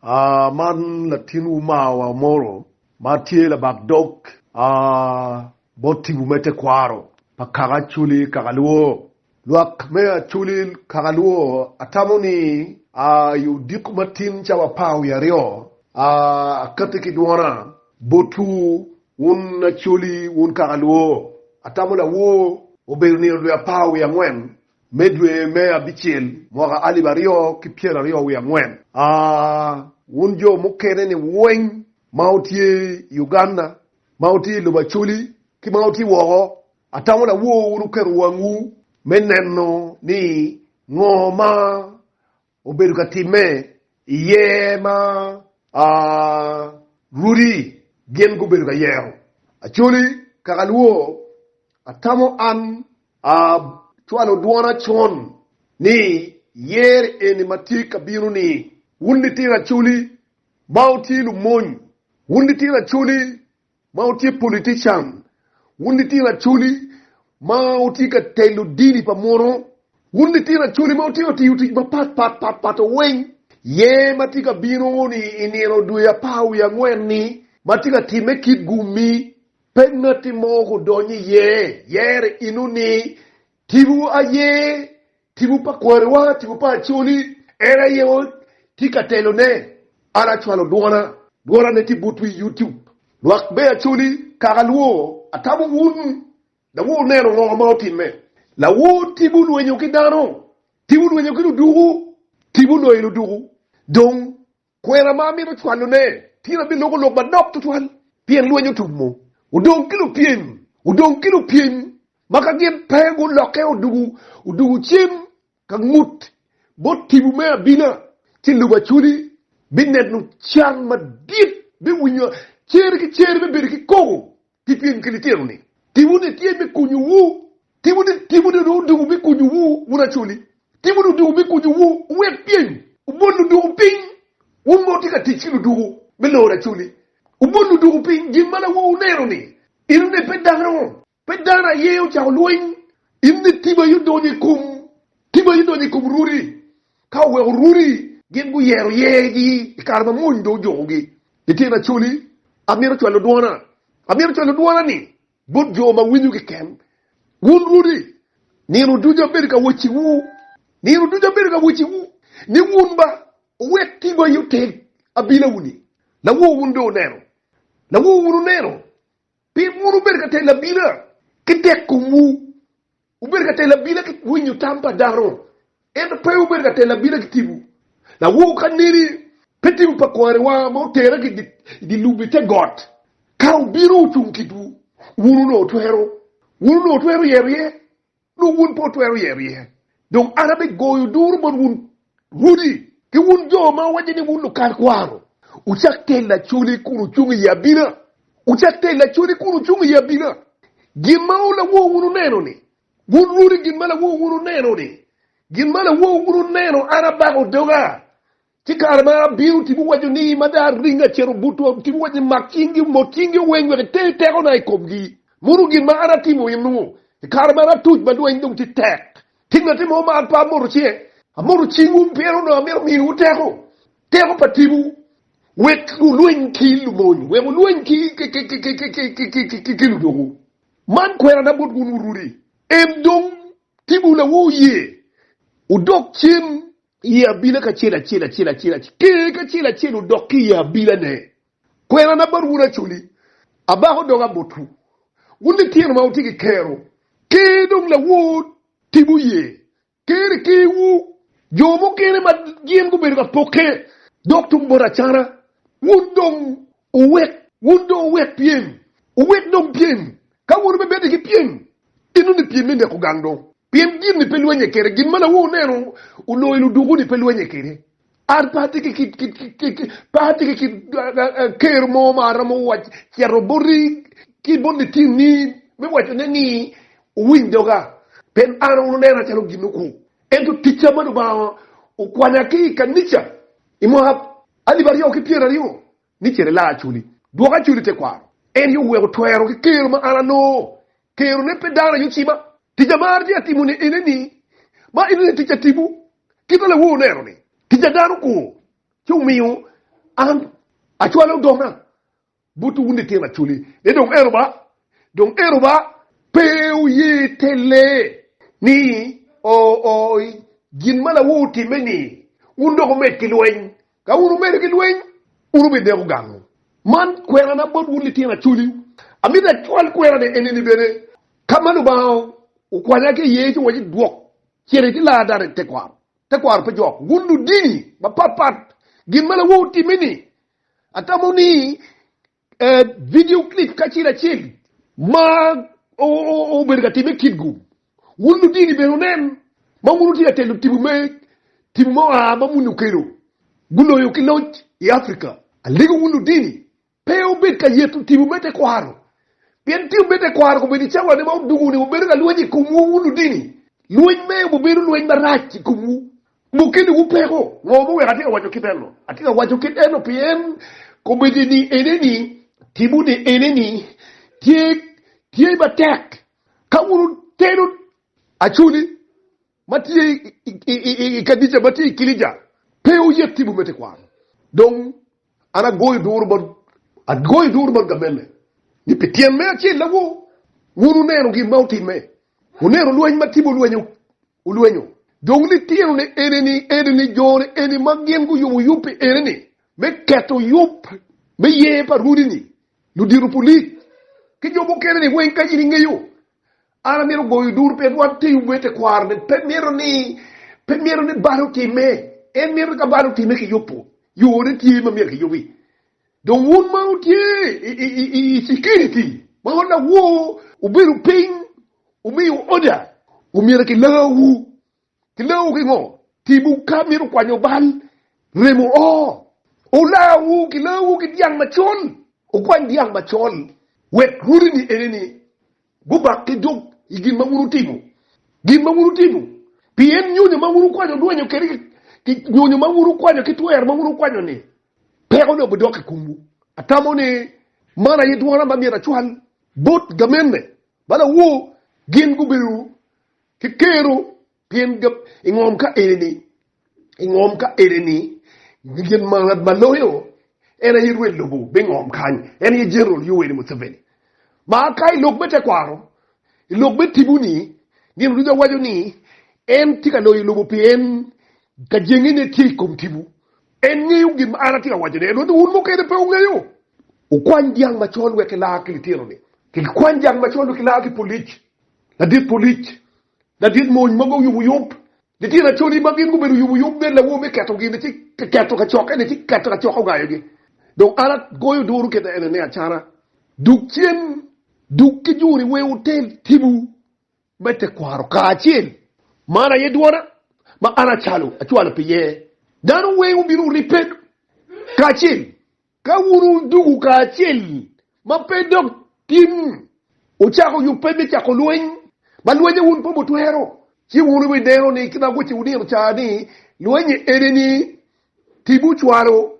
Aa, man latinwu mar wa Moro ma tye labak dog, aa, bot tibu me tekwaro pa kaka Acholi kaka luwo. Lwak me Acholi kaka luwo, atamo ni, aa, i odiko matin ca wa par wiye aryo, aa, akati ki dwona botwu, wun Acholi, wun kaka luwo. Atamo lawoo obedo nino dwe apar wiye angwen Me dwe me abicel, mwaka alip aryo ki pyero aryo wiye angwen, a wun jo mukene-ni weng ma wutye i Uganda, ma wutye i lobo Acholi, ki ma wutye woko, atamo lawo wun wuketo wangwu me neno ni ngo ma obedo ka timme iye ma rwodi gin gubedo ka yero Acholi kaka luwo, Atamo an acwalo dwona con ni yer eni ma tye ka bino-ni, Wun litino Acholi, ma wutye lumony, wun litino Acholi ma wutye politician, wun litino acholi ma wutye ka telo dini pa muno, wun litino acholi ma wutye ka tiyo tic mapat pat pat pat weng, yer ma tye ka bino ni i nino dwe apar wiye angwen ni ma tye ka time kit gummi, pe ngatti mo kudonyo iye, yer inu ni Tipo aye tipo pa kwariwa, tipo pa Acholi, en aye tye ka telone. An acwalo dwona, dwonane tye butwu i YouTube. Lwak me Acholi, kaka alwor, atamo wun dawoor wuneno ngo ma otimme. Lawor tipo lwenyo ki dano, tipo lwenyo ki luduku, tipo loyo luduku, dong Kwena ma amito cwalone, tyen aye biloko lok madok tutwal, pien lweny otumo, odong ki lupyeny, odong ki lupyeny ma ka gin pe gulokke odugu, odugu cen ka ngut bot tipo me abina, ci lubaculi bineno can madit, biwinyo cer ki cer, bibedo ki koko pi pyem ki litino-ni. Timone tye me konyowu. Timone dong odoko me konyowu wun acoli. Timone odoko me konyowu wuwek pyem. Wubol ludoko piny, wun ma wutye ka tic ki ludoko me loro acoli. Wubol ludoko piny gin ma lawowu oneno-ni. Enoni pe dano, pe dano aye ocako lweny. Enoni tiba aye odonyo i kom, tiba aye odonyo i kom rwodi. Ka oweko runi, gin guyero yergi i kare ma mony dong ojukogi. I tyena acoli, amito cwalo dwona. Amito cwalo dwona-ni bot jo ma winyo keken. Wun runi, nino ducu abedo ka wacciwu, nino ducu abedo ka wacciwu ni wun ba wuwek tigo aye oteg abilawu-ni. Lawowu wun dong wuneno? Lawowu wun wuneno? Pien wun wubedo ka telo abila ki tek komwu, wubedo ka telo abila ki winyo tam pa dano, ento pe wubedo ka telo abila ki tipo. Lawor ka neni pe tipo pa kwariwa ma otera ki i dye lubbe te got, ka obino ocung kitwu, wun onongo twero, wun onongo twero yero iye? Dong wun pe wutwero yero iye. Dong an abigoyo duru bot wun rwodi, ki wun jo ma wuwaco ni wun lukat kwaro, wucak tel lacoli kun wucung i abina. Wucak tel lacoli kun wucung i abina. Gin ma lawowu wun oneno-ni, wun rwodi, gin ma lawowu wun oneno-ni, gin ma lawowu wun oneno, an abako doga, Ci kare ma abino, Tipo waco ni, Mada ring acito butwa. Tipo waco ni, Mak cingi, mot cingi weng wek iter tekona i komgi. Mono gin ma an atimo eno. I kare man atuc ma lweny dong tye tek. Tye ngatti mo ma an pe amoto cinge? Amoto cingwu pien onongo amito miyowu teko, teko pa tipo, wek wulweny ki lumony, wek wulweny ki ludwogo. Man kwerana bot wun wurudi. Em dong, tipowu lawo oye, wudok cen I abila kacel acel acel acel acel, ker kacel acel odok ki i abilane. Kwerana bot wun Acoli, abako doga botwu, wun litino ma wutye ki kerwu. Ker dong lawor timwu ye, ker i kerwu. Jo mukene ma gin gubedo ka pokke dok tung bot acana, wun dong Wuwek wun dong wuwek pyem, wuwek dong pyem. Ka wun wubebedde ki pyem, inongo pyem me neko gang dong. Pien gin ni pe lwenye kede, gin ma lawo oneno oloyo ludwogo ni pe lwenye kede. An pe atye ki kit, kit, kit, kit, pe atye ki kit ker mo ma aromo wac, cito boti ki bot litini me wacone ni, Wuwiny doga, pien an wun wunena calo gin okwo. Ento ticca ma Lubanga okwanya ki i kanica i mwaka Alip aryo ki pyeraryo ni cen ila acoli, dwok acoli tekwaro. En aye oweko twero ki kero ma an anongo, kero ne pe dano aye ocima. Tic amaro tye atimo ni ene ni, ma ene ni tic atibu kit ma lawor oneno ni tic adano kur ci omiyo an acwalo odona. Butu wun litino acholi ni dong ero ba, dong ero ba. Pe wuye telle ni ooi gin ma lawu otimme-ni, wun dong wumed ki lweny. Ka wun wumedo ki lweny, wun wubideko gangu. Man kwerana bot wun litino acholi, amito acwal kwerane enini bene, Ka ma Lubanga okwanya ki iye ci wacci idwok cente ki laa dano i tekwaro, tekwaro pe jok. Wun ludini mapatpat, gin ma lawu otimme-ni, Atamo ni vidio clip kacel acel ma obedo ka timme kitgu, wun ludini bene wunen ma wun wutye ka telo timu me timu ma oa ma muni okelo guloyo ki loc i Africa. Alego wun ludini, pe wubed ka yeto timu me tekwaro, pien timu me tekwaro kobedo i cawane ma odungo-ni wubedo ka lweny i komwu wun ludini, lweny me obedo lweny marac i komwu. Mukene wupeko, ngo ma weko atye ka waco kit eno? Atye ka waco kit eno pien komiti ni ene ni, timo ni ene ni, tye, tye matek ka wun wuteno Acholi ma tye i Kadica ma tye i Kilija pe oye timo me tekwaro. Dong an agoyo duru bot, agoyo duru bot gamenne ni pi tyen me acel ago, wun wuneno gin ma otimme, wuneno lweny ma Timo olwenyo olwenyo dong litinone enini, enini jone eni ma gin guyubo yub pi enini me keto yub me yer pa runi-ni, ludito pulic, ki jo mukeneni weng ka in ingeyo. An amito goyo duru pien wan te yub me tekwarone pe mito ni pe mito ni balo time, en mito ni ka balo time kiyubo, yone tye ma myero kiyubi. Dong wun ma wutye i, i, i, i, i security ma wun lawor, wubedo piny Wumiyo oda, omyero kilawu. Kilawu ki ngo? Timwu ka mito kwanyo bal, remo o. Olawu, kilawu ki dyang macol. Wukwany dyang macol, wek rwodini enini gubak ki dog i gin ma wun wutimo. Gin ma wun wutimo. Pien nyonyo ma wun wukwanyo dwonyo kede ki nyonyo ma wun wukwanyo ki twer ma wun wukwanyo-ni, pekone obidok i komwu. Atamo ni man aye dwona ma myero acwal bot gamenne Balawu gin gubedo ki kero pien gab i ngom ka eni-ni, i ngom ka eni-ni, gin ma ngat ma loyo en aye rwed lobo me ngom kany, en aye General Yoweri Museveni. Ma ka i lok me tekwaro, i lok me tipo-ni, gin duca waco ni en tye ka loyo lobo pien kajengene tye i kom tipo. En ngeyo gin ma an atye ka wacone, ento ni wun mukene pe wungeyo. Wukwany dyang macol wek ilaa ki litinoni, ki gikwany dyang macol wek gilaa ki polic, ladit polic, ladit mony ma guyuboyub. Litino acoli ma gin gubedo oyuboyub nen lawo me keto gin-ni, ci keto kacokkene, ci keto kacok ongayogi. Dong an agoyo duru kit enene acana. Dug cen, dug ki juri, wer wutel tibu. me tekwaro kacel. Man aye dwona, ma an acalo acwalo pi ye dano weng wubino wuribbe kacel, ka wun wuduku kacel ma pe dok tim wucako yubbe me cako lweny, ma lwenye wun pe wutwero, ci wun wibineno ni kit ma agoci wunino ca ni, lwenye ene ni, tim wucwalo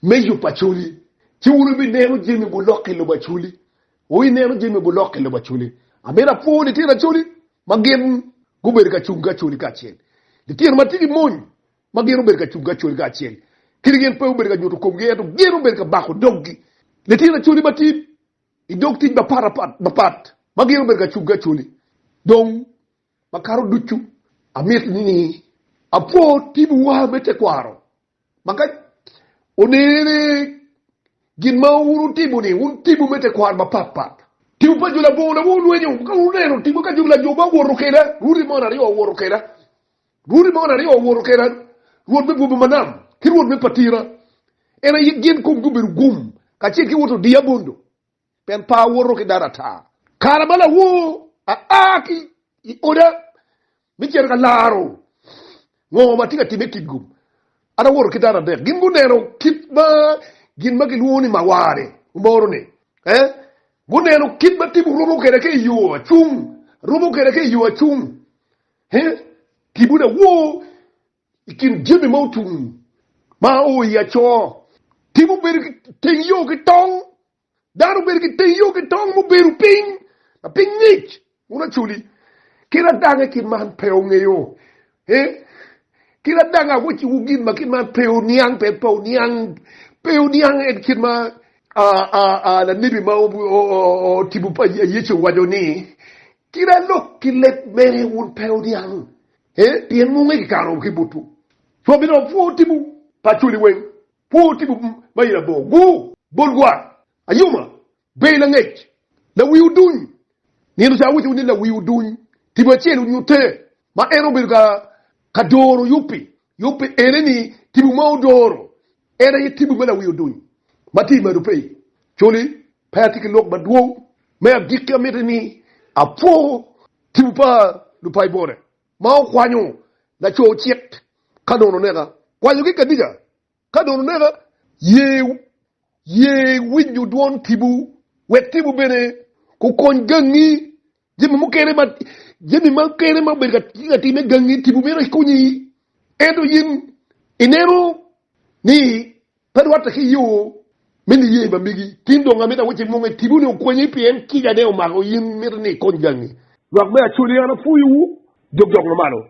me yub pa culi, ci wun wibineno jami gulokke lobo aculi, O ineno jami ma gulok i lobo Acholi. Amito apwo litino Acholi ma gin gubedo ka cung ki Acholi kacel. Litino ma tye ki mony ma gin obedo ka cung ki Acholi kacel. Kadi gin pe obedo ka nyuto komgi ento gin obedo ka bako doggi. Litino Acholi ma tye i dog tic mapatpat ma gin obedo ka cung ki Acholi. Dong makato ducu amito ni apwo timwu me tekwaro Ma ka onene ni gin ma wun wutimo-ni wun timwu me tekwaro mapat pat, timwu pa jo labongo na wulwenyo, ka wun wuneno timwu ka jo lajob ma owoto keda, Rwodi moni aryo owoto keda, Rwodi moni aryo owoto keda, Rwot me bwome ma nam, ki Rwot me patira, en aye gin komgi obedo gum, kacel ki wot odiya bondo. pien pe awoto ki dano ata. Kare ma lawor aa ki i oda me cito ka laro ngo ma atye ka timme i kin-gu, an awoto ki dano adek. Gin guneno kit ma gin ma gilwongo ni mawar-ni omoro-ni. Guneno kit ma tipo rumo kwede ka i yo acung, rumo kwede ka i yo acung. Kibuna woo I kin jami ma otum ma oo i Acor, tim obedo ki teng yo ki tong. Dano obedo ki teng yo ki tong mubedo piny ma piny ngic kun acoli ki ladanga kit man pe ongeyo ee ki ladanga weciwo gin ma kit man pe oniang pe pe oniang pe oniang en kit ma aa lanebi ma otibo pa Yecu owaco ni kit alok ki leb mene wun pe oniang Ee, pien munge kikanowu ki butwu. Cwak i dog pwo tibu pa cwali weng, pwo tibu ma i labongo, gur, bol gwar, ayuma, ber langec, lawi oduny. Nino ca awacowu ni lawi oduny tibu acel onyutte, ma en obedo ka doro yubbi. Yubbi ene-ni tibu ma odoro, en aye tibu me lawi oduny ma tye i malo-pe-i cwali. Pe atye ki lok madwong me agikki, amiti ni apwo tipo pa Lupaibone ma okwanyo laco cik ka dong luneka, kwanyo ki kadica ka dong luneka, ye winyo dwon tipo, wek tipo bene okony gangi. Jami mukene ma jami mukene ma obedo ka timme gangi tipo mito ikunyi, ento in ineno ni pe rwatte ki yo me niye ma megi. Tin dong amito awacci imunge tipo ni okwenyi pien kica ne omako in mito ni ikony gangi. Lwak me Acolya an apwoyowu, jok jok ma malo.